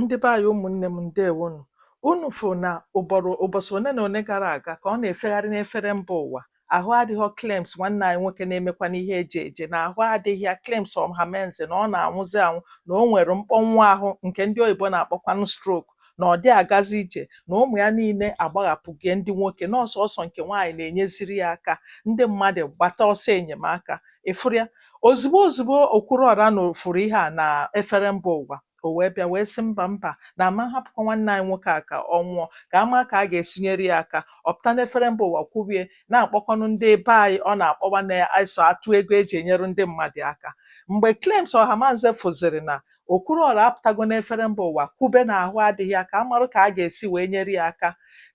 Ndị be anyị ụmụnne m ndewonụ. Unu fụ na ụbọsị one na one gara aga ka ọ na-efegharị n'efere mba ụwa ahụ adịghọ Clems nwanne anyị nwoke na-emekwa n'ihe ejije na ahụ adịghị ya Clems Ọhamanze na ọ na-anwụzi anwụ na o nwere mkpọnwụ ahụ nke ndị oyibo na-akpọkwanụ stroke na ọ dị agazi ije na ụmụ ya niile agbaghapụgo ya ndị nwoke na ọ sọsọ nke nwaanyị na-enyeziri ya aka ndị mmadụ gbata ọsọ enyemaka ị fụrụ ya ozugbo ozugbo Okwuruọra na ọ fụrụ ihe a n'efere mba ụwa O wee bịa wee sị mba mba na a ma hapụkwa nwanne anyị nwoke a ka ọ nwụọ ka a ma ka a ga-esi nyere ya aka ọ pụta n'efere mba ụwa kwubie na-akpọkwanụ ndị be anyị ọ na-akpọwa na iso atụ ego e ji enyere ndị mmadụ aka mgbe Clems Ọhamanze fụziri na Okwuruọra apụtago n'efere mba ụwa kwube na ahụ adịghị ya ka a marụ ka a ga-esi wee nyere ya aka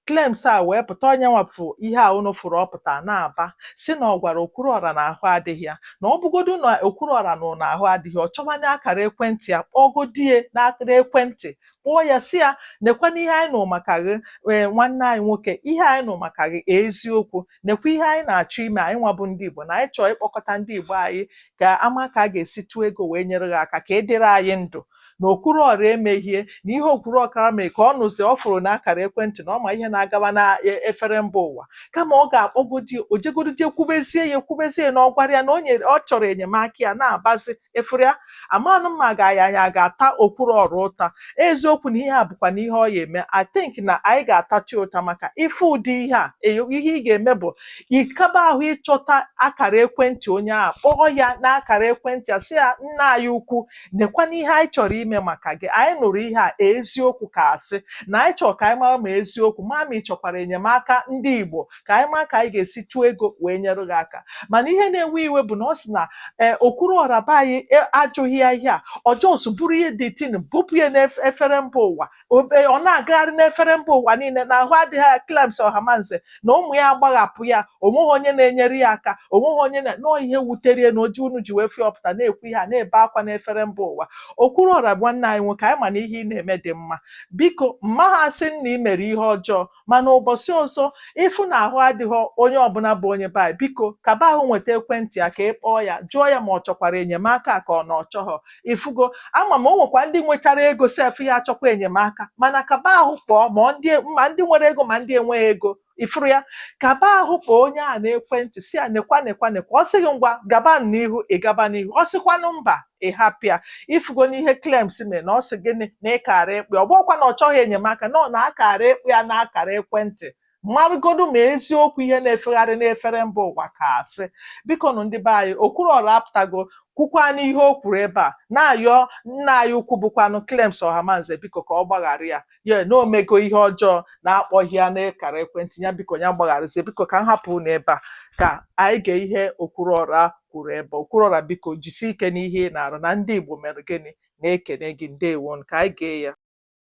Clems a wee pụta ọ nya nwa bụ ihe a unu fụrụ ọ pụta na-aba sị na ọ gwara Okwuruọra na ahụ adịghị ya na ọ bụgodu na Okwuruọra nụ na ahụ adịghị ya ọ chọwanye akara ekwentị ya kpọgodi ya n'akara ekwentị kpọọ ya sị ya nekwanụ ihe anyị nụ maka gị ee nwanne anyị nwoke ihe anyị nụ maka gị eziokwu nekwa ihe anyị na-achọ ime anyị nwa bụ ndị Igbo na anyị chọọ ịkpọkọta ndị Igbo anyị ka a ma ka a ga-esi tụọ ego wee nyere gị aka ka ị dịrị anyị ndụ na Okwuruọra emehie na ihe Okwuruọra kara mee ka ọ nụzi ọ fụrụ na akara ekwentị na ọ ma ihe na-agaba na e- efere mba ụwa kama ọ ga-akpọgodi o jegodi jee kwubezie ya ekwubezie ya na ọ gwara ya na o nyere ọ chọrọ enyemaka ya na-abazi ị fụrụ ya amanụ m ma ga ya ya ga-ata Okwuruọra ụta eziokwu na ihe a bụkwanụ ihe ọ ya-eme i think na anyị ga-atachi ụta maka ị fụ ụdị ihe a eyo- ihe ị ga-eme bụ ịkaba ahụ ịchọta akara ekwentị onye ahụ kpọọ ya n'akara ekwentị a sị ya nna anyị ukwu Nekwanụ ihe anyị chọrọ ime maka gị. Anyị nụrụ ihe a, eziokwu ka asị, na anyị chọrọ ka anyị mara ma eziokwu, ma ma ị chọkwara enyemaka ndị Igbo, ka anyị mara ka anyị ga-esi tụọ ego wee nyere gị aka. Mana ihe na-ewe iwe bụ na ọ sị na ee Okwuruọra be anyị e, ajụghị ya ihe a, ọ just buru ihe the thing bupụ ya n'efere mba ụwa. ebe ọ na-agagharị n'efere mba ụwa niile na ahụ adịghị ya Clems Ọhamanze na ụmụ ya agbaghapụ ya o nweghị onye na-enyere ya aka o nweghị onye na na ọ ihe wutere ya na o ji unu ji wee fụ ya ọ pụta na-ekwu ihe a na-ebe akwa n'efere mba ụwa Okwuruọra bụ nwanne anyị nwoke anyị ma na ihe ị na-eme dị mma biko m maha asị na ị mere ihe ọjọọ mana ụbọsị ọzọ ị fụ na ahụ adịghị onye ọbụla bụ onye be anyị biko kaba ahụ nweta ekwentị ya ka ị kpọọ ya jụọ ya ma ọ chọkwara enyemaka ka ọ na ọ chọghọ ị fụgo a ma ma o nwekwa ndị nwechara ego sef ya-achọkwa enyemaka mana kaba ahụ kpọọ ma ọ ndị ma ndị nwere ego ma ndị enweghị ego ị fụrụ ya kaba ahụ kpọọ onye a n'ekwentị sị ya nekwa nekwa nekwa ọ sị gị ngwa gaba n'ihu ị gaba n'ihu ọ sịkwanụ mba ị hapụ ya ị fụgo n'ihe Clems mee na ọ sị gịnị na ị kaara ịkpọ ya ọ bụkwa na ọ chọghị enyemaka na ọ na-akara ịkpọ ya n'akara ekwentị marụgodu ma eziokwu ihe na-efegharị n'efere mba ụwa ka a sị bikonụ ndị be anyị okwuruọra apụtago kwukwanụ ihe o kwuru ebe a na-ayọ nna anyị ukwu bụkwanụ Clems Ohamanze biko ka ọ gbaghara ya ya na o mego ihe ọjọọ na akpọghị ya n'akara ekwentị ya biko ya gbagharazie biko ka m hapụ unu ebe a ka anyị gee ihe okwuruọra kwuru ebe okwuruọra biko jisie ike n'ihe ị na-arụ na ndị Igbo mere gịnị na-ekene gị ndewo ka anyị gee ya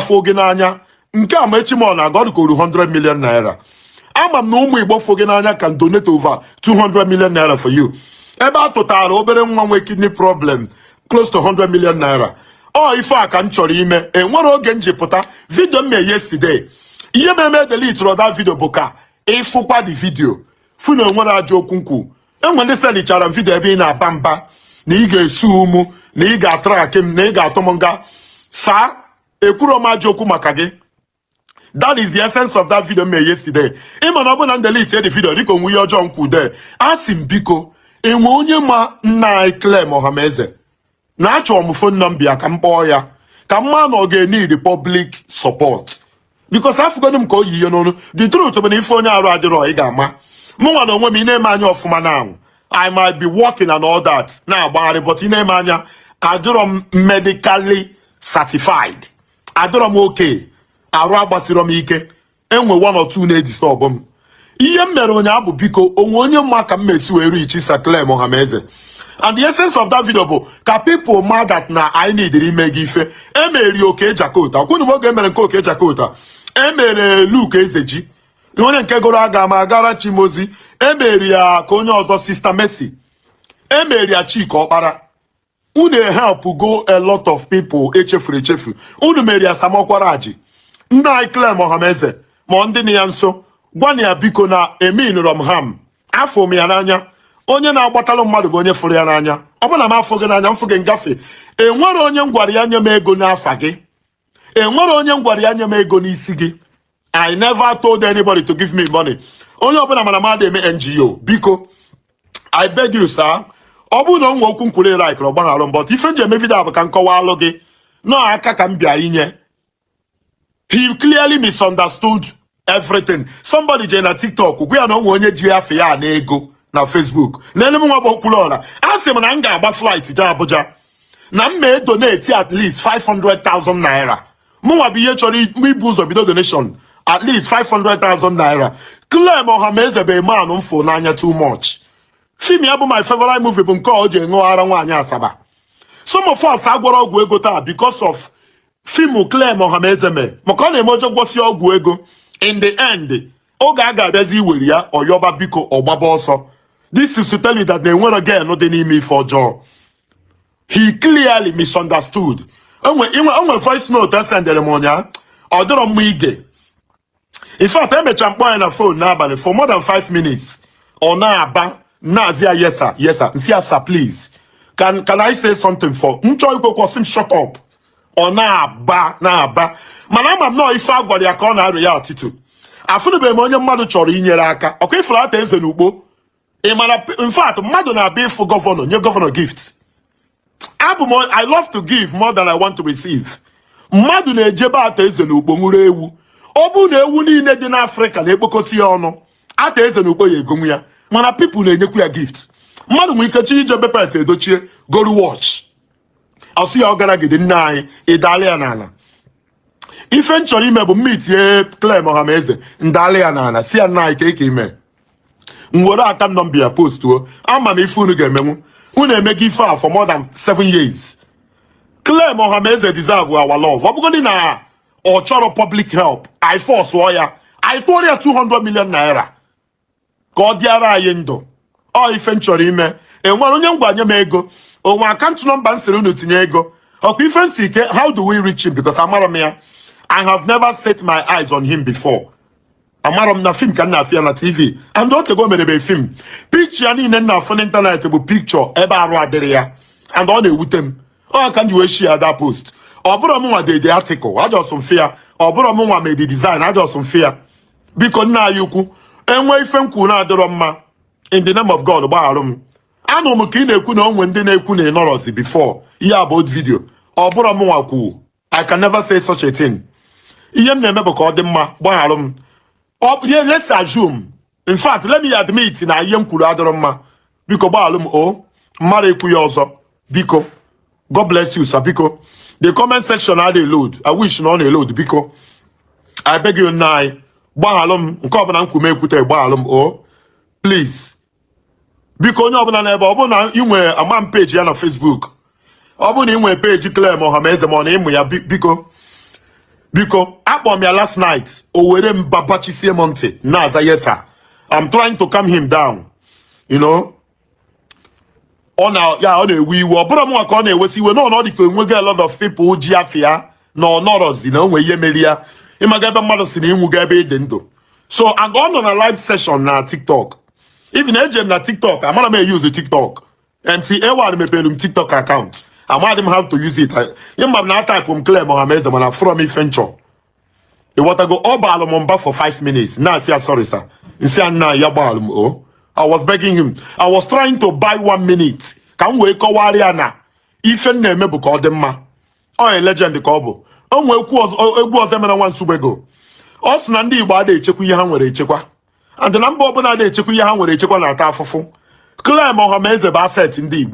afụ gị n'anya nke a ma echi ma ọ na-aga ọ dịka o ru 100 million naira ama m na ụmụ Igbo fụ gị n'anya can donate over 200 million naira for you ebe a tụtara obere nwa nwee kidney problem close to 100 million naira ọ ife a ka m chọrọ ime enwere oge m ji pụta vidio m mee yesterday ihe mere m edeleterọ that vidio bụ ka ị fụkwa the vidio fụ na enwerọ ajọ okwu m kwu enwe ndị selichara m vidio ebe ị na-aba mba na ị ga-esuu mụ na ị ga-atrakị m na ị ga-atụ m nga saa ekwuro m ajọ okwu maka gị that is the essence of that video m mere yesterday ị ma na ọ bụ na m delite the video dịka o nwe ihe ọjọọ m kwude asị m biko enwe onye ma nna anyị Clem Ohameze na achọrọ m fon nọmba ya ka m kpọọ ya ka m ma na ọ ga-enid public support because afụgonu m ka o yi ihe n'onu the truth bụ na ị fụ onye arụ adịrọ ị ga-ama mụnwa na onwe m ị na-ene m anya ọfụma na-anwụ I might be working and all that na-agbagharị but ị na-ene m anya adịrọ m medically certified adịrọ m okay arụ agbasirọ m ike enwe one or two na-edistọbụ m ihe m mere ụnyaahụ bụ biko o nwe onye ma ka m mesi wee richi Sir Clem Ohameze and the essence of that video bụ ka people ma that na anyị nidiri ime gị ife e meri Okey Jakota kwunu m oge e mere nke Okey Jakota e mere Luke Ezeji onye nke gụrụ aga m agara Chi m ozi e meri ya ka onye ọzọ sista Mercy e meri ya Chika Ọkpara unu helpụgo a lot of people e chefuru echefu unu mere ya Sam Okwaraji nna anyị Clem Ohameze ma ndị nọ ya nso gwanụ ya biko na eminrọ m harm afụ m ya n'anya onye na-agbatalụ mmadụ bụ onye fụrụ ya n'anya ọ bụrụ na m afụ gị n'anya m fụ gị m gafe enwerọ onye m gwara ya nye m ego n'afa gị enwerọ onye m gwara ya nye m ego n'isi gị i never told anybody to give me money onye ọbụla ma na m ada eme NGO biko i beg you sir ọ bụrụ na o nwe okwu m kwuru ị likerọ gbaghara m but ife m ji eme vidio bụ ka m kọwaalụ gị na ọ aka ka m bịa inye he clearly misunderstood everything somebody jee na tiktok gwa ya na onwe onye ji afa ya ana ego na facebook na enemu nwa gbokwuru ọra a sị m na m ga-agba flight jee abuja na m mee donate at least 500,000 naira mụnwa bụ ihe chọrọ ibu ụzọ bido donation at least 500,000 naira Clem Ohameze bụ man m fụ n'anya too much fim ya bụ my favorite movie bụ nke o ji ṅụọ ara nwaanyị asaba some of us agwọrọ ọgwụ ego taa because of fimu Clem Ohameze mee maka ọ na-eme o jee gwọsịa ọgwụ ego in the end oge a ga-abịazi iwere ya ọ yọba biko ọ gbaba ọsọ this is to tell you that na enwero gain dị n'ime ife ọjọọ he clearly misunderstood onwe voice note esendere m ụnyaahụ ọ dịrọ mma ige in fact emechara m kpọọ nna anyị na phone n'abalị for more than 5 minutes ọ na-aba m na-asị ya yes sir yes sir m sị ya sir please can can I say something for m chọọ ikwu okwu ọ sị m shut up ọ na-aba na-aba mana ama m na ọ ife a gwara ya ka ọ na-areactị to afụnụbeghị m onye mmadụ chọrọ inyere aka ọkwa ị fụrụ Arthur Eze na Ukpo ị mara in fact mmadụ na-abịa ịfụ gọvanọ nye gọvanọ gift abụ m i love to give more than i want to receive mmadụ na-eje be Arthur Eze na Ukpo kpụrụ ewu ọ bụrụ na ewu niile dị n'afrịka na-ekpokọta ya ọnụ Arthur Eze na Ukpo ya egonwu ya mana pipụl na-enyekwu ya gift mmadụ nwere ike chọọ ije be Pete Edochie goru wọch ọ sị ya ọgadagidi nna anyị ị dala ya n'ala ife m chọrọ ime bụ m meetie Clem Ọhameze m dalị ya n'ala sị ya nna anyị kee ka ị me m were akaụntụ nọmba ya postuo ama m ife unu ga-emenwu unu emego ife a for more than seven years Clem Ọhameze deserve our love ọ bụgodị na ọ chọrọ public help anyị forcụọ ya anyị tụọrọ ya 200 million naira ka ọ dịara anyị ndụ ọ ife m chọrọ ime enwere onye m gwa nye m ego onwe akaụntụ nọmba m sịrị unu tinye ego ọkwa ife m sị kee how do we reach him because amarọ m ya I have never set my eyes on him before amarọ m na fim ka m na-afụ ya na tv and o tego merebe fim pikchọ ya niile m na-afụ n'ịntanetị bụ pikchọ ebe arụ adịrọ ya and ọ na-ewute m ọ ka m ji wee share that post ọ bụrọ m nwa de the atikụl ajọsụ m fụ ya ọ bụrọ m nwa me the dizain ajọsụ m fụ ya biko nna anyị ukwu e nwee ife m kwuru na-adịrọ mma in the name of God gbagharụ m anụ m ka ị na-ekwu na onwe ndị na-ekwu na ị nọrọzi before ihe a bụ old video ọ bụrọ m nwa kwu I can never say such a thing ihe m na-eme bụ ka ọ dị mma gbagharụ m let's assume in fact let me admit na ihe m kwuru adịrọ mma biko gbaghalụ m o m mara ekwu ya ọzọ biko god bless you sir biko the comment section adịghị load i wish na ọ na-elod biko i beg you nna anyị gbaghalụ m nke ọbụla m kwu m ekwute gbaghalụ m o please biko onye ọbụla nọ ebe a ọ bụrụ na ị nwere ama m peji ya na facebook ọ bụrụ na ị nwere peji Clem Ohameze ma ọ na ị ma ya biko biko akpọ m ya last night o were mba bachisie m ntị na-aza yes sir I'm trying to calm him down you know ọ na ya ọ na-ewe iwe ọ bụrọ m ka ọ na-ewesi iwe na ọ dị ka enweghị a lot of people ji afa ya na ọ nọrọzi na o nwee ihe mere ya ị mago ebe mmadụ sị na ị nwụgo ebe ị dị ndụ so and ọ nọ na live session na tiktok even eje m na tiktok amadị m eyuzu tiktok MC A1 mepere m TikTok account amadị m how to use it ihe m ma na atapụ m Clem Ohameze mana from ife m chọ ị ghọtago ọ baalụ m mba for 5 minutes na-asị ya sorry sir m sị ya nna ya gbaalụ m o I was begging him I was trying to buy one minute ka m wee kọwara ya na ife m na-eme bụ ka ọ dị mma ọ ya legend ka ọ bụ o nwee egwu Ozoemena nwa Nsugbe gụ ọ sị na ndị Igbo ada echekwa ihe ha nwere echekwa and na mba ọbụla ana echekwa ihe ha nwere echekwa na-ata afụfụ Clem Ohameze bụ asset ndị Igbo